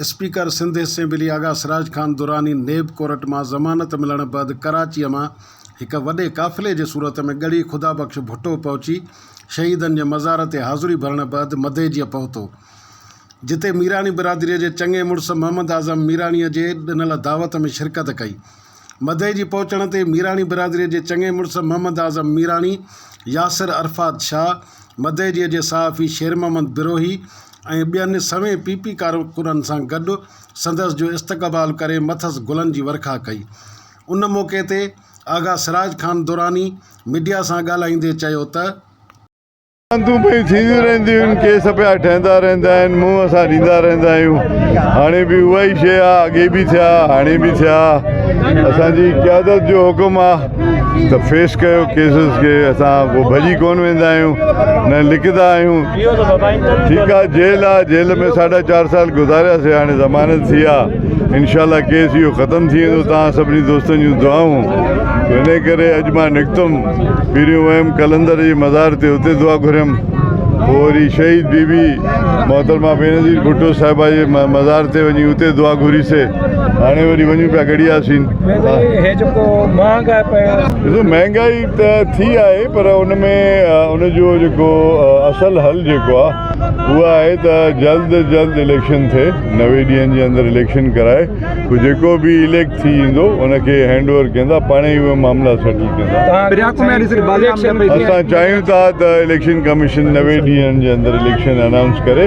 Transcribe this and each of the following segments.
Speaker Sindh assembly Agha Siraj Khan Durrani NAB court مان ضمانت ملڻ بعد ڪراچيء مان هڪ وڏي قافلي جي صورت ۾ ڳڙهي خدا بخش ڀٽو پهچي شهيدن جي مزار تي حاضري ڀرڻ بعد مديجيء پهتو جتي ميراڻي برادريء جي چڱي مڙس محمد اعظم ميراڻيء جي ڏنل دعوت ۾ شرڪت ڪئي مدئي جي پهچڻ تي ميراڻي برادريء جي چڱي مڙس محمد اعظم ميراڻي، ياسر عرفات شاهه، مدئي جي جي صحافي شير محمد بروهي ۽ ٻين سوين پي پي ڪارڪنن سان گڏ سندس جو استقبال ڪري مٿس گلن جي ورکا ڪئي. ان موقعي تي آغا سراج خان دراني ميڊيا سان ڳالهائيندي چيو ته. راندون پيون ٿينديون رهنديون آهن، ڪيس پيا ٺهندا رهندا آهن، منهن اسان ڏيندا رهندا آهيون، هاڻي به اها ئي شيء آهي، اڳي به ٿيا، هاڻي به ٿيا، اسان جي قيادت جو حڪم آهي ته فيس ڪيو ڪيسز کي، اسان ڪو ڀڄي ڪونه ويندا آهيون، نه لڪندا آهيون، ٺيڪ آهي جيل آهي، جيل ۾ ساڍا چار سال گذاريا سي، هاڻي ضمانت ٿي آهي، انشاء الله ڪيس اهو ختم ٿي ويندو، توهان سڀني دوستن جون دعائون، انهي ڪري اڄ مان نڪتم. پھريون ويم قلندر جي مزار تي اتي دعا گھريم پوء وري شھيد بي بي محترمه بينظير ڀٽو صاحبه جي مزار تي وڃي اتي دعا گھري سي ھاڻي وري وڃون پيا گڙھيا سين. سائين ھي جيڪو مھانگائي پيو. ڏسو مھانگائي ته ٿي آھي پر ان ۾ ان جو جيڪو اصل حل جيڪو آ اھو آھي ته جلد جلد اليڪشن ٿئي نوي ڏينھن جي اندر اليڪشن ڪرائي پوء جيڪو به اليڪٽ ٿي ويندو ان کي هينڊ اوور ڪندا پاڻ ئي اهي معاملا سيٽل ڪندا اسان چاهيون ٿا ته اليڪشن ڪميشن نوي ڏينهن جي اندر اليڪشن انائونس ڪري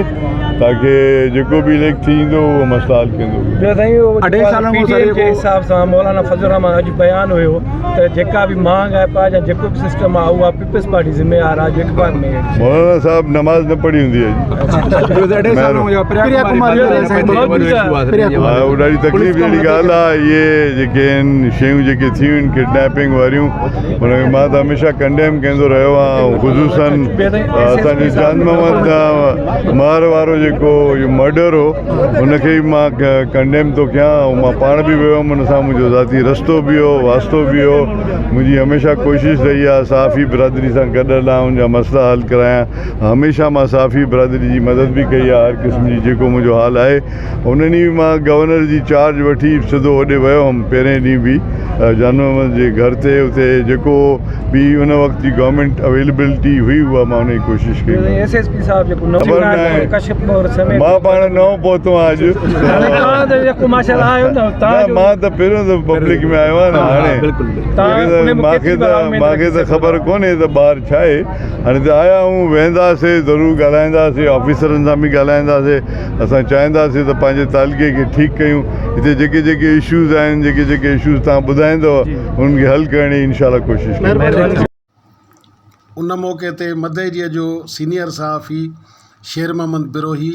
تاڪي جيڪو به اليڪٽ ٿي ويندو اهو مسئلا حل ڪندو ٻيو سائين اڍائي سالن کان پي ٽي ايم جي حساب سان مولانا فضل الرحمان اڄ بيان هيو ته جيڪا به مهانگ آهي پاء جا جيڪو به سسٽم آهي اهو پيپلز پارٽي ذميوار آ جيڪ پار ۾ مولانا صاحب نماز نه پڙهي هوندي ڏاڍي تڪليف جهڙي ڳالهه آهي اهي جيڪي آهن شيون جيڪي ٿيون آهن ڪڊنيپنگ واريون ان کي مان ته هميشه ڪنڊيم ڪندو رهيو آهيان خصوصا اسانجي جان محمد مار وارو جيڪو اهو مرڊر هو ان کي مان ڪنڊيم ٿو ڪيان مان پاڻ به ويو هوم ان سان منهنجو ذاتي رستو به هو واسطو به هو منهنجي هميشه ڪوشش رهي آهي صحافي برادري سان گڏ هلان ان جا مسئلا حل ڪرايان هميشه مان صحافي برادري جي مدد به ڪئي آهي هر قسم جي جيڪو منهنجو حال آهي ان ڏينهن به مان گورنر جي چارج وٺي سڌو هوڏي ويو هئم پهرين ڏينهن به جان محمد جي گهر تي اتي جيڪو به ان وقت جي گورنمينٽ اويلبلٽي هئي اها مان ان جي ڪوشش ڪئي خبر ناهي مان پاڻ نئون پهتو آهيان اڄ مان ته پهريون دفعو پبلڪ ۾ آيو آهيان مان کي ته مان کي ته خبر ڪونهي ته ٻاهر ڇا آهي هاڻي ته آيا آهيون ويهنداسي ضرور ڳالهائينداسي آفيسرن سان به ڳالهائينداسي اسان چاهينداسي ته پنهنجي تعلقي کي ٺيڪ ڪيون هتي جيڪي جيڪي اشوز آهن جيڪي جيڪي اشوز تهان ٻڌائيندو انهن کي حل ڪرڻ جي انشاء الله ڪوشش ڪنداسين ان موقعي تي مدئجي جو سينئر صحافي شير محمد بروهي،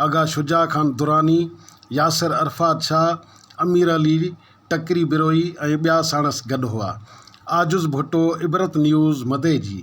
آغا شجاع خان دراني، ياسر عرفات شاهه، امير علي ٽڪري بروهي ۽ ٻيا ساڻس گڏ هئا. عاجز ڀٽو عبرت نيوز مدئجي.